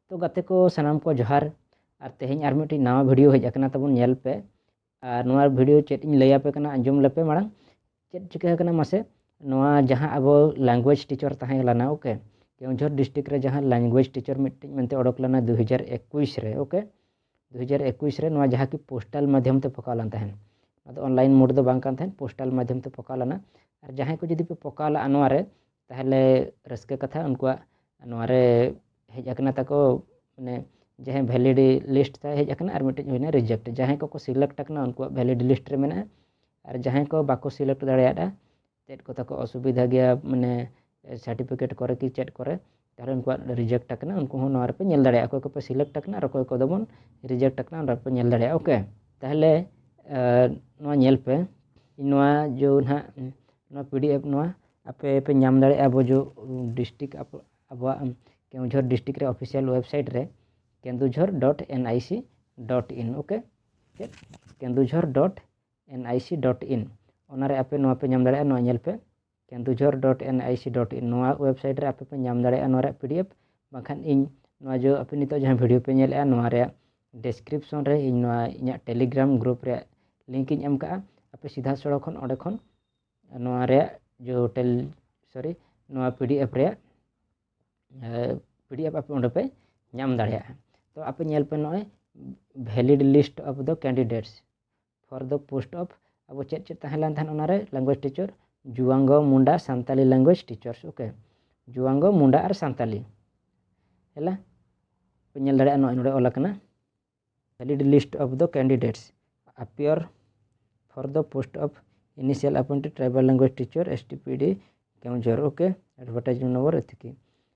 ᱛᱚ ᱜᱟᱛᱮ ᱠᱚ ᱥᱟᱱᱟᱢ ᱠᱚ ᱡᱚᱦᱟᱨ ᱟᱨ ᱛᱮᱦᱮᱧ ᱟᱨ ᱢᱤᱫᱴᱤᱡ ᱱᱟᱣᱟ ᱵᱷᱤᱰᱤᱭᱳ ᱦᱮᱡ ᱟᱠᱟᱱᱟ ᱛᱟᱵᱚᱱ ᱧᱮᱞ ᱯᱮ ᱟᱨ ᱱᱚᱣᱟ ᱵᱷᱤᱰᱤᱭᱳ ᱪᱮᱫ ᱤᱧ ᱞᱟᱹᱭ ᱟᱯᱮ ᱠᱟᱱᱟ ᱟᱸᱡᱚᱢ ᱞᱮᱯᱮ ᱢᱟᱲᱟᱝ ᱪᱮᱫ ᱪᱤᱠᱟᱹ ᱟᱠᱟᱱᱟ ᱢᱟᱥᱮ ᱱᱚᱣᱟ ᱡᱟᱦᱟᱸ ᱟᱵᱚ ᱞᱮᱝᱜᱩᱭᱮᱡᱽ ᱴᱤᱪᱟᱨ ᱛᱟᱦᱮᱸ ᱞᱮᱱᱟ ᱳᱠᱮ ᱠᱮᱣᱡᱷᱚᱨ ᱰᱤᱥᱴᱨᱤᱠᱴ ᱨᱮ ᱡᱟᱦᱟᱸ ᱞᱮᱝᱜᱩᱭᱮᱡᱽ ᱴᱤᱪᱟᱨ ᱢᱤᱫᱴᱤᱡ ᱢᱮᱱᱛᱮ ᱚᱰᱚᱠ ᱞᱮᱱᱟ ᱫᱩ ᱦᱟᱡᱟᱨ ᱮᱠᱩᱥ ᱨᱮ ᱳᱠᱮ ᱫᱩ ᱦᱟᱡᱟᱨ ᱮᱠᱩᱥ ᱨᱮ ᱱᱚᱣᱟ ᱡᱟᱦᱟᱸ ᱠᱤ ᱯᱳᱥᱴᱟᱞ ᱢᱟᱫᱽᱫᱷᱚᱢ ᱛᱮ ᱯᱚᱠᱟᱣ ᱞᱮᱱ ᱛᱟᱦᱮᱸᱫ ᱟᱫᱚ ᱚᱱᱞᱟᱭᱤᱱ ᱢᱳᱰ ᱫᱚ ᱵᱟᱝ ᱠᱟᱱ ᱛᱟᱦᱮᱸᱫ ᱯᱳᱥᱴᱟᱞ ᱢᱟᱫᱽᱫᱷᱚᱢ ᱛᱮ ᱯᱚᱠᱟᱣ ᱞᱮᱱᱟ ᱟᱨ ᱡᱟᱦᱟᱸᱭ ᱠᱚ ᱡᱩᱫᱤ ᱯᱮ ᱯᱚᱠᱟᱣ ᱞᱟᱜᱼᱟ ᱱᱚᱣᱟ ᱨᱮ ᱛᱟᱦᱚᱞᱮ ᱨᱟᱹᱥᱠᱟᱹ ᱠᱟᱛᱷᱟ ᱩᱱᱠᱩᱣᱟᱜ ᱱᱚᱣᱟ ᱨᱮ ᱦᱮᱡ ᱟᱠᱟᱱᱟ ᱛᱟᱠᱚ ᱢᱟᱱᱮ ᱡᱟᱦᱟᱸᱭ ᱵᱷᱮᱞᱤᱰᱤ ᱞᱤᱥᱴ ᱛᱟᱭ ᱦᱮᱡ ᱟᱠᱟᱱᱟ ᱟᱨ ᱢᱤᱫᱴᱮᱡ ᱦᱩᱭᱱᱟ ᱨᱤᱡᱮᱠᱴ ᱡᱟᱦᱟᱸᱭ ᱠᱚᱠᱚ ᱥᱤᱞᱮᱠᱴ ᱟᱠᱟᱱᱟ ᱩᱱᱠᱩᱣᱟᱜ ᱵᱷᱮᱞᱤᱰᱤ ᱞᱤᱥᱴ ᱨᱮ ᱢᱮᱱᱟᱜᱼᱟ ᱟᱨ ᱡᱟᱦᱟᱸᱭ ᱠᱚ ᱵᱟᱠᱚ ᱥᱤᱞᱮᱠᱴ ᱫᱟᱲᱮᱭᱟᱫᱼᱟ ᱪᱮᱫ ᱠᱚ ᱛᱟᱠᱚ ᱚᱥᱩᱵᱤᱫᱷᱟ ᱜᱮᱭᱟ ᱢᱟᱱᱮ ᱥᱟᱨᱴᱤᱯᱷᱤᱠᱮᱴ ᱠᱚᱨᱮ ᱠᱤ ᱪᱮᱫ ᱠᱚᱨᱮ ᱛᱟᱦᱚᱞᱮ ᱩᱱᱠᱩᱣᱟᱜ ᱨᱤᱡᱮᱠᱴ ᱟᱠᱟᱱᱟ ᱩᱱᱠᱩ ᱦᱚᱸ ᱱᱚᱣᱟ ᱨᱮᱯᱮ ᱧᱮᱞ ᱫᱟᱲᱮᱭᱟᱜᱼᱟ ᱚᱠᱚᱭ ᱠᱚᱯᱮ ᱥᱤᱞᱮᱠᱴ ᱟᱠᱟᱱᱟ ᱟᱨ ᱚᱠᱚᱭ ᱠᱚᱫᱚ ᱵᱚᱱ ᱨᱤᱡᱮᱠᱴ ᱟᱠᱟᱱᱟ ᱚᱱᱟ ᱨᱮᱯᱮ ᱧᱮᱞ ᱫᱟᱲᱮᱭᱟᱜᱼᱟ ᱳᱠᱮ ᱛᱟᱦᱚᱞᱮ ᱱᱚᱣᱟ ᱧᱮᱞ ᱯᱮ ᱱᱚᱣᱟ ᱡᱚ ᱱᱟᱦᱟᱜ ᱱᱚᱣᱟ ᱯᱤ ᱰᱤ ᱮᱯᱷ ᱱᱚᱣᱟ ᱟᱯᱮ ᱯᱮ ᱧᱟᱢ ᱫᱟᱲᱮᱭᱟᱜᱼᱟ ᱟᱵᱚ ᱡᱚ ᱰᱤᱥᱴᱤᱠ ᱟᱵᱚᱣᱟᱜ ᱠᱮᱣᱡᱷᱚᱨ ᱰᱤᱥᱴᱤᱠ ᱨᱮ ᱚᱯᱷᱤᱥᱤᱭᱟᱞ ᱳᱭᱮᱵᱽᱥᱟᱭᱤᱴ ᱨᱮ Kendujhar dot N I C dot in okay ᱪᱮᱫ Kendujhar dot N I C dot in ᱚᱱᱟᱨᱮ ᱟᱯᱮ ᱱᱚᱣᱟ ᱯᱮ ᱧᱟᱢ ᱫᱟᱲᱮᱭᱟᱜᱼᱟ ᱱᱚᱣᱟ ᱧᱮᱞ ᱯᱮ Kendujhar dot N I C dot in ᱱᱚᱣᱟ ᱳᱭᱮᱵᱽᱥᱟᱭᱤᱴ ᱨᱮ ᱟᱯᱮ ᱯᱮ ᱧᱟᱢ ᱫᱟᱲᱮᱭᱟᱜᱼᱟ ᱱᱚᱣᱟ ᱨᱮᱭᱟᱜ ᱯᱤ ᱰᱤ ᱮᱯᱷ ᱵᱟᱝᱠᱷᱟᱱ ᱤᱧ ᱱᱚᱣᱟ ᱡᱚ ᱟᱯᱮ ᱱᱤᱛᱚᱜ ᱡᱟᱦᱟᱸ ᱵᱷᱤᱰᱤᱭᱳ ᱯᱮ ᱧᱮᱞᱮᱜᱼᱟ ᱱᱚᱣᱟ ᱨᱮᱭᱟᱜ ᱰᱮᱥᱠᱨᱤᱯᱥᱚᱱ ᱨᱮ ᱤᱧ ᱱᱚᱣᱟ ᱤᱧᱟᱹᱜ ᱴᱮᱞᱤᱜᱨᱟᱢ ᱜᱨᱩᱯ ᱨᱮᱭᱟᱜ ᱞᱤᱝᱠ ᱤᱧ ᱮᱢ ᱠᱟᱜᱼᱟ ᱟᱯᱮ ᱥᱤᱫᱷᱟ ᱥᱚᱲᱚ ᱠᱷᱚᱱ ᱚᱸᱰᱮ ᱠᱷᱚᱱ ᱱᱚᱣᱟ ᱨᱮᱭᱟᱜ ᱡᱚ ᱴᱮᱞ ᱥᱚᱨᱤ ᱱᱚᱣᱟ ᱯᱤ ᱰᱤ ᱮᱯᱷ ᱨᱮᱭᱟᱜ ᱯᱤ ᱰᱤ ᱮᱯᱷ ᱟᱯᱮ ᱚᱸᱰᱮ ᱯᱮ ᱧᱟᱢ ᱫᱟᱲᱮᱭᱟᱜᱼᱟ ᱛᱚ ᱟᱯᱮ ᱧᱮᱞ ᱯᱮ ᱱᱚᱜᱼᱚᱭ valid list of the candidates for the post of ᱟᱵᱚ ᱪᱮᱫ ᱪᱮᱫ ᱛᱟᱦᱮᱸ ᱞᱮᱱ ᱛᱟᱦᱮᱸᱫ ᱚᱱᱟᱨᱮ ᱞᱮᱝᱜᱩᱭᱮᱡᱽ ᱴᱤᱪᱟᱨ ᱡᱩᱣᱟᱝᱜᱚ Munda Santali language teachers okay ᱡᱩᱣᱟᱝᱜᱚ ᱢᱩᱱᱰᱟ ᱟᱨ ᱥᱟᱱᱛᱟᱞᱤ ᱦᱮᱞᱟ ᱯᱮ ᱧᱮᱞ ᱫᱟᱲᱮᱭᱟᱜᱼᱟ ᱱᱚᱜᱼᱚᱭ ᱱᱚᱰᱮ ᱚᱞ ᱟᱠᱟᱱᱟ valid list of the candidates ᱟᱯᱤᱭᱚᱨ for the post of initial appointed tribal language teacher S T P D ᱠᱮᱢᱡᱚᱨ ᱳᱠᱮ ᱮᱰᱵᱷᱟᱨᱴᱟᱭᱤᱡᱢᱮᱱᱴ ᱱᱚᱢᱵᱚᱨ ᱮᱛᱷᱤᱠᱤ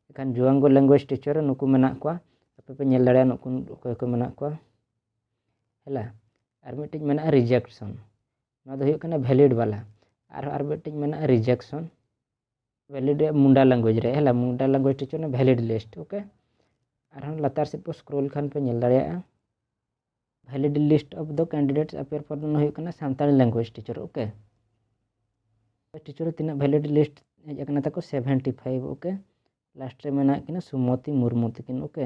ᱮᱱᱠᱷᱟᱱ ᱡᱩᱣᱟᱝᱜᱚ ᱞᱮᱝᱜᱩᱭᱮᱡᱽ ᱴᱤᱪᱟᱨ ᱱᱩᱠᱩ ᱢᱮᱱᱟᱜ ᱠᱚᱣᱟ ᱟᱯᱮ ᱯᱮ ᱧᱮᱞ ᱫᱟᱲᱮᱭᱟᱜᱼᱟ ᱱᱩᱠᱩ ᱚᱠᱚᱭ ᱠᱚ ᱢᱮᱱᱟᱜ ᱠᱚᱣᱟ ᱦᱮᱞᱟ ᱟᱨ ᱢᱤᱫᱴᱤᱡ ᱢᱮᱱᱟᱜᱼᱟ ᱨᱤᱡᱮᱠᱥᱚᱱ ᱱᱚᱣᱟ ᱫᱚ ᱦᱩᱭᱩᱜ ᱠᱟᱱᱟ ᱵᱷᱮᱞᱤᱰ ᱵᱟᱞᱟ ᱟᱨᱦᱚᱸ ᱟᱨ ᱢᱤᱫᱴᱤᱡ ᱢᱮᱱᱟᱜᱼᱟ ᱨᱤᱡᱮᱠᱥᱚᱱ ᱵᱷᱮᱞᱤᱰ ᱨᱮᱭᱟᱜ ᱢᱩᱱᱰᱟ ᱞᱮᱝᱜᱩᱭᱮᱡᱽ ᱨᱮ ᱦᱮᱞᱟ ᱢᱩᱱᱰᱟ ᱞᱮᱝᱜᱩᱭᱮᱡᱽ ᱴᱤᱪ ᱚᱱᱟ ᱵᱷᱮᱞᱤᱰ ᱞᱤᱥᱴ ᱳᱠᱮ ᱟᱨᱦᱚᱸ ᱞᱟᱛᱟᱨ ᱥᱮᱫ ᱯᱮ ᱥᱠᱨᱳᱞ ᱠᱷᱟᱱ ᱯᱮ ᱧᱮᱞ ᱫᱟᱲᱮᱭᱟᱜᱼᱟ valid list of the candidates appear for ᱚᱱᱟ ᱦᱩᱭᱩᱜ ᱠᱟᱱᱟ Santali language teacher okay teacher ᱛᱤᱱᱟᱹᱜ ᱵᱷᱮᱞᱤᱰ ᱞᱤᱥᱴ ᱦᱮᱡ ᱟᱠᱟᱱᱟ ᱛᱟᱠᱚ ᱥᱮᱵᱷᱮᱱᱴᱤ ᱯᱷᱟᱭᱤᱵᱷ ᱳᱠᱮ ᱞᱟᱥᱴ ᱨᱮ ᱢᱮᱱᱟᱜ ᱠᱤᱱᱟ ᱥᱩᱢᱚᱛᱤ ᱢᱩᱨᱢᱩ ᱛᱟᱹᱠᱤᱱ ᱳᱠᱮ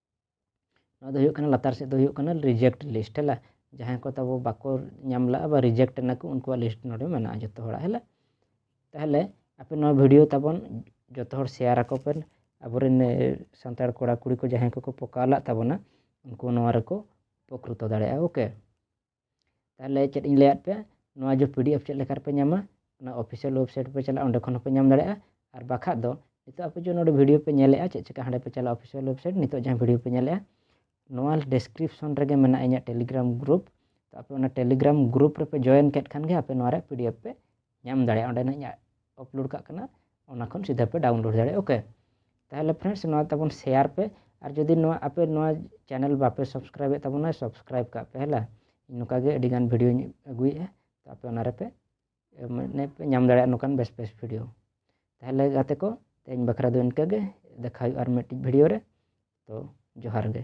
ᱱᱚᱣᱟ ᱫᱚ ᱦᱩᱭᱩᱜ ᱠᱟᱱᱟ ᱞᱟᱛᱟᱨ ᱥᱮᱫ ᱫᱚ ᱦᱩᱭᱩᱜ ᱠᱟᱱᱟ ᱨᱤᱡᱮᱠᱴ ᱞᱤᱥᱴ ᱦᱮᱞᱟ ᱡᱟᱦᱟᱸᱭ ᱠᱚ ᱛᱟᱵᱚ ᱵᱟᱠᱚ ᱧᱟᱢ ᱞᱟᱜᱼᱟ ᱵᱟ ᱨᱤᱡᱮᱠᱴ ᱮᱱᱟᱠᱚ ᱩᱱᱠᱩᱣᱟᱜ ᱞᱤᱥᱴ ᱱᱚᱰᱮ ᱢᱮᱱᱟᱜᱼᱟ ᱡᱚᱛᱚ ᱦᱚᱲᱟᱜ ᱦᱮᱞᱟ ᱛᱟᱦᱚᱞᱮ ᱟᱯᱮ ᱱᱚᱣᱟ ᱵᱷᱤᱰᱤᱭᱳ ᱛᱟᱵᱚᱱ ᱡᱚᱛᱚ ᱦᱚᱲ ᱥᱮᱭᱟᱨ ᱟᱠᱚ ᱯᱮ ᱟᱵᱚᱨᱮᱱ ᱥᱟᱱᱛᱟᱲ ᱠᱚᱲᱟ ᱠᱩᱲᱤ ᱠᱚ ᱡᱟᱦᱟᱸᱭ ᱠᱚᱠᱚ ᱯᱚᱠᱟᱣ ᱞᱟᱜ ᱛᱟᱵᱚᱱᱟ ᱩᱱᱠᱩ ᱱᱚᱣᱟ ᱨᱮᱠᱚ ᱩᱯᱚᱠᱨᱤᱛᱚ ᱫᱟᱲᱮᱭᱟᱜᱼᱟ ᱳᱠᱮ ᱛᱟᱦᱚᱞᱮ ᱪᱮᱫ ᱤᱧ ᱞᱟᱹᱭᱟᱫ ᱯᱮᱭᱟ ᱱᱚᱣᱟ ᱡᱮ ᱯᱤ ᱰᱤ ᱮᱯᱷ ᱪᱮᱫ ᱞᱮᱠᱟ ᱨᱮᱯᱮ ᱧᱟᱢᱟ ᱚᱱᱟ ᱚᱯᱷᱤᱥᱤᱭᱟᱞ ᱳᱭᱮᱵᱽᱥᱟᱭᱤᱴ ᱯᱮ ᱪᱟᱞᱟᱜᱼᱟ ᱚᱸᱰᱮ ᱠᱷᱚᱱ ᱦᱚᱸᱯᱮ ᱧᱟᱢ ᱫᱟᱲᱮᱭᱟᱜᱼᱟ ᱟᱨ ᱵᱟᱠᱷᱟᱡ ᱫᱚ ᱱᱤᱛᱚᱜ ᱟᱯᱮ ᱡᱮ ᱱᱚᱰᱮ ᱵᱷᱤᱰᱤᱭᱳ ᱯᱮ ᱧᱮᱞᱮᱫᱼᱟ ᱪᱮᱫ ᱪᱮᱠᱟ ᱦᱟᱸᱰᱮ ᱯᱮ ᱪᱟᱞᱟᱜᱼᱟ ᱚᱯᱷᱤᱥᱤᱭᱟᱞ ᱳᱭᱮᱵᱽᱥᱟᱭᱤᱴ ᱱᱤᱛᱚᱜ ᱡᱟᱦᱟᱸ ᱵᱷᱤᱰᱤᱭᱳ ᱯᱮ ᱧᱮᱞᱮᱫᱼᱟ ᱱᱚᱣᱟ ᱰᱮᱥᱠᱨᱤᱯᱥᱚᱱ ᱨᱮᱜᱮ ᱢᱮᱱᱟᱜᱼᱟ ᱤᱧᱟᱹᱜ ᱴᱮᱞᱤᱜᱨᱟᱢ ᱜᱨᱩᱯ ᱛᱚ ᱟᱯᱮ ᱚᱱᱟ ᱴᱮᱞᱤᱜᱨᱟᱢ ᱜᱨᱩᱯ ᱨᱮᱯᱮ ᱡᱚᱭᱮᱱ ᱠᱮᱫ ᱠᱷᱟᱱ ᱜᱮ ᱟᱯᱮ ᱱᱚᱣᱟ ᱨᱮᱭᱟᱜ ᱯᱤ ᱰᱤ ᱮᱯᱷ ᱯᱮ ᱧᱟᱢ ᱫᱟᱲᱮᱭᱟᱜᱼᱟ ᱚᱸᱰᱮ ᱱᱟᱜ ᱤᱧᱟᱹᱜ ᱟᱯᱞᱳᱰ ᱠᱟᱜ ᱠᱟᱱᱟ ᱚᱱᱟ ᱠᱷᱚᱱ ᱥᱤᱫᱷᱟᱹ ᱯᱮ ᱰᱟᱣᱩᱱᱞᱳᱰ ᱫᱟᱲᱮᱭᱟᱜᱼᱟ ᱳᱠᱮ ᱛᱟᱦᱚᱞᱮ ᱯᱷᱨᱮᱱᱰᱥ ᱱᱚᱣᱟ ᱛᱟᱵᱚᱱ ᱥᱮᱭᱟᱨ ᱯᱮ ᱟᱨ ᱡᱩᱫᱤ ᱱᱚᱣᱟ ᱟᱯᱮ ᱱᱚᱣᱟ ᱪᱮᱱᱮᱞ ᱵᱟᱯᱮ ᱥᱟᱵᱥᱠᱨᱟᱭᱤᱵ ᱮᱫ ᱛᱟᱵᱚᱱᱟ ᱥᱟᱵᱥᱠᱨᱟᱭᱤᱵ ᱠᱟᱜ ᱯᱮ ᱦᱮᱞᱟ ᱱᱚᱝᱠᱟ ᱜᱮ ᱟᱹᱰᱤ ᱜᱟᱱ ᱵᱷᱤᱰᱤᱭᱳᱧ ᱟᱹᱜᱩᱭᱮᱫᱼᱟ ᱛᱚ ᱟᱯᱮ ᱚᱱᱟ ᱨᱮᱯᱮ ᱢᱟᱱᱮ ᱯᱮ ᱧᱟᱢ ᱫᱟᱲᱮᱭᱟᱜᱼᱟ ᱱᱚᱝᱠᱟᱱ ᱵᱮᱥ ᱵᱮᱥ ᱵᱷᱤᱰᱤᱭᱳ ᱛᱟᱦᱚᱞᱮ ᱜᱟᱛᱮ ᱠᱚ ᱛᱮᱦᱮᱧ ᱵᱟᱠᱷᱨᱟ ᱫᱚ ᱤᱱᱠᱟᱹ ᱜᱮ ᱫᱮᱠᱷᱟ ᱦᱩᱭᱩᱜᱼᱟ ᱟᱨ ᱢᱤᱫᱴᱤᱡ ᱵᱷᱤᱰᱤᱭᱳ ᱨᱮ ᱛᱚ ᱡᱚᱦᱟᱨ ᱜᱮ